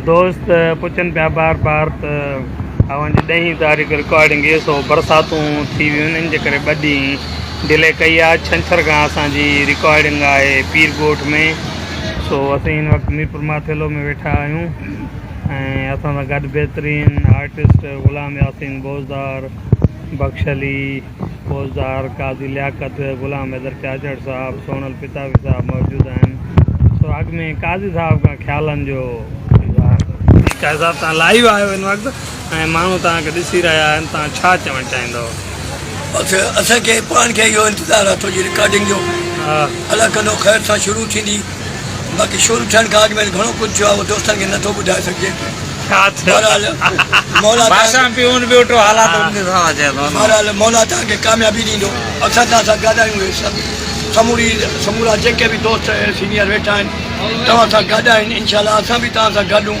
دوست پڇن پيا بار بار ته اوهان جي ڏهين تاريخ رڪارڊنگ اي سو برساتون ٿي ويون ان جي ڪري ٻه ڏينهن ڊلي ڪئي آهي ڇنڇر کان اسان جي رڪارڊنگ آهي پير ڳوٺ ۾ سو اسين هن وقت ميرپور ماٿيلو ۾ ويٺا آهيون ۽ اسان سان گڏ بهترين آرٽسٽ غلام ياسين بوزدار بخش علي فوجدار، قاضي لياقت، غلام حيدر چاچڙ صاحب، سونل پتاوي صاحب موجود آهن سو اڳ ۾ قاضي صاحب کان خيالن جو اظهار ڪري صاحب تان لائيو آهيو ان وقت ۽ ماڻهو تان کي ڏسي رهيا آهن تان ڇا چوڻ چاهيندو. بس اسان کي پاڻ کي اهو انتظار آهي تنهنجي رڪارڊنگ جو الله ڪندو خير سان شروع ٿيندي. باقي شروع ٿيڻ کان اڳ ۾ گهڻو ڪجهه ٿيو آهي اهو دوستن کي نه ٿو ٻڌائي سگهجي بهرحال مولا بهرحال مولا توهان کي ڪاميابي ڏيندو اڪثر توهان سان گڏايون اهي سڀ سموري سمورا جيڪي به دوست سينيئر ويٺا آهن توهان سان گڏ آهن انشاء الله اسان به توهان سان گڏ هون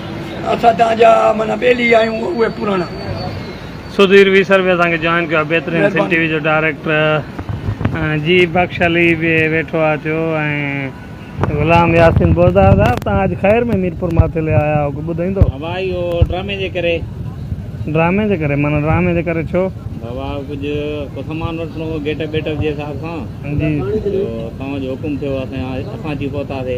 اسان تان جا معنيٰ ٻيلي آهيون اهي پراڻا. سڌير ويسر به اسان کي جوائن ڪيو آهي بهترين سنڌ ٽي وي جو ڊائريڪٽر ۽ جي بخش علي به ويٺو آهي ٿيو ۽ غلام ياسين بوزدار صاحب تان اڄ خير ۾ ميرپور ماٿيلي آيا هئو ڪو ٻڌائيندو. بابا اهو ڊرامي جي ڪري. ڊرامي جي ڪري معنيٰ ڊرامي جي ڪري ڇو. بابا ڪجهه ڪو سامان وٺڻو هو گيٽ اپ ٻيٽ اپ جي حساب سان جي تو توهان جو حڪم ٿيو اسان اچي پهتاسي.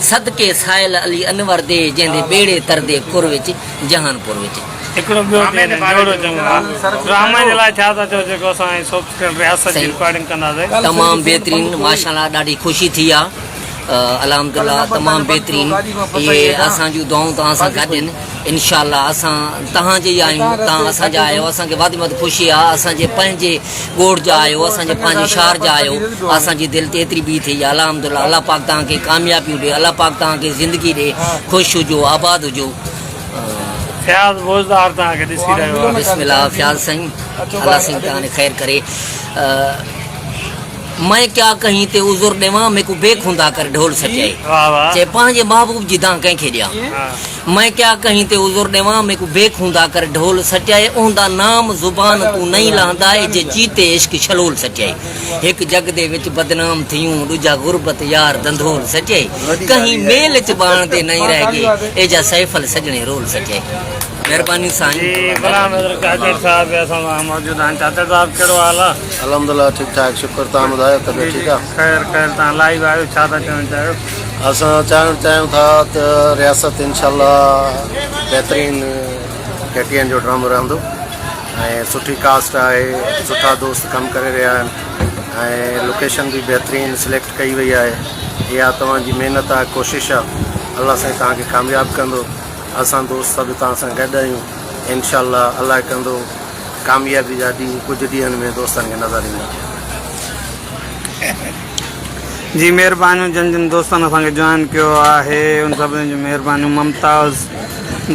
صدقي سائل علي انور دي جنهن دي ٻيڙي تردي ڪر وچ جهان پور وچ. هڪڙو ٻيو ٿي وڃي جوڙو چڱو ها ڊرامي جي لاء ڇا ٿا چئو جيڪو اسان ۽ سوفٽ ڪريڊ رياست جي رڪارڊنگ ڪنداسين. تمام بهترين ماشاءالله ڏاڍي خوشي ٿي آ الحمدالله تمام بهترين اهي اسان جون دعائون توهان سان گڏ ان انشاءالله اسان تهان جي آهيون تهان اسان جا آهيو اسان کي وڌ ۾ وڌ خوشي آ اسان جي پنهنجي ڳوٺ جا آهيو اسان جي پنهنجي شهر جا آهيو اسان جي دل تي ايتري بيهه ٿئي الحمدلله الله پاڪ توهان کي ڪاميابيون ڏي الله پاڪ توهان کي زندگي ڏي خوش هجو آباد هجو فياض بوزدار توهان کي ڏسي رهيو آهي بسم الله فياض سائين الله سائين توهان کي خير ڪري میں کيا کئين تي عذر ڏيوان ميکون بي خوندا ڪر ڍول سچائي چي پنهنجي محبوب جي دانهن ڪنهن کي ڏيان مئن ڪيا ڪهين تي عذر ڏيوان مي ڪو بيڪ هوندا ڪر ڍول سٽيائي اوندا نام زبان تون نئين لهندا اي جي چيتي عشق شلول سٽيائي هڪ جڳ دي وچ بدنام ٿيون ڏجا غربت يار ڌنڌول سٽيائي ڪهين ميل چ ٻاڻ دي نئين رهه گي اي جا سيفل سڄڻي رول سٽيائي مهرباني سائين جي غلام حضرت چاچڙ صاحب به اسان سان موجود آهن چاچڙ صاحب ڪهڙو حال آ الحمدلله ٺيڪ ٺاڪ شڪر تهان ٻڌايو طبيعت ٺيڪ آ خير خير تهان لائيو آهيو ڇا ٿا چوين چاهيو. اسان چاهڻ چاهيون ٿا ته رياست انشاء الله بهترين ڪي ٽي اين جو ڊرامو رهندو ۽ سٺي ڪاسٽ آهي سٺا دوست ڪم ڪري رهيا آهن لوڪيشن به بهترين سليڪٽ ڪئي وئي آهي اها توهان جي محنت آهي ڪوشش آهي الله سائين توهان کي ڪامياب ڪندو اسان دوست سڀ توهان سان گڏ آهيون انشاء الله الله ڪندو ڪاميابي جا ڏينهن ڪجهه ڏينهن ۾ دوستن کي نظر ايندا جي مھربانيون جن جن دوستن اسان کي جوائن ڪيو آھي ان سڀني جون مھربانيون ممتاز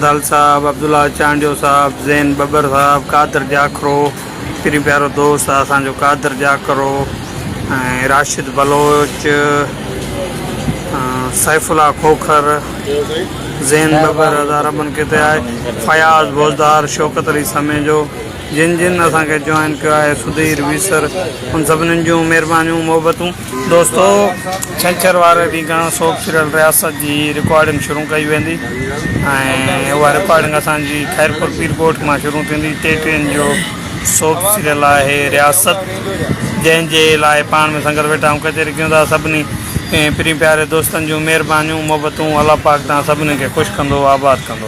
دل صاحب عبدالله چانڊيو صاحب زين ٻٻر صاحب قادر جاکرو پھريون پيارو دوست آھي اسان جو قادر جاکرو ۽ راشد بلوچ سيف الله کوکر زين ٻٻر اداربن ڪيتي آھي فياض بوزدار شوڪت علي سميجو جن جن اسان کي جوائن ڪيو آهي سڌير ويسر ان سڀنن جون مهربانيون محبتون دوستو ڇنڇر واري ڏينهن کان سوپ سيريل رياست جي رڪارڊنگ شروع ڪئي ويندي ۽ اها رڪارڊنگ اسان جي خيرپور پير ڳوٺ مان شروع ٿيندي ٽي ٽين جو سوپ سيريل آهي رياست جنهن جي لاء پاڻ ۾ سنگت ويٺا آهيون ڪچهري ڪيون ٿا سڀني پرين پياري دوستن جون مهربانيون محبتون الله پاڪ تان سڀني کي خوش ڪندو آباد ڪندو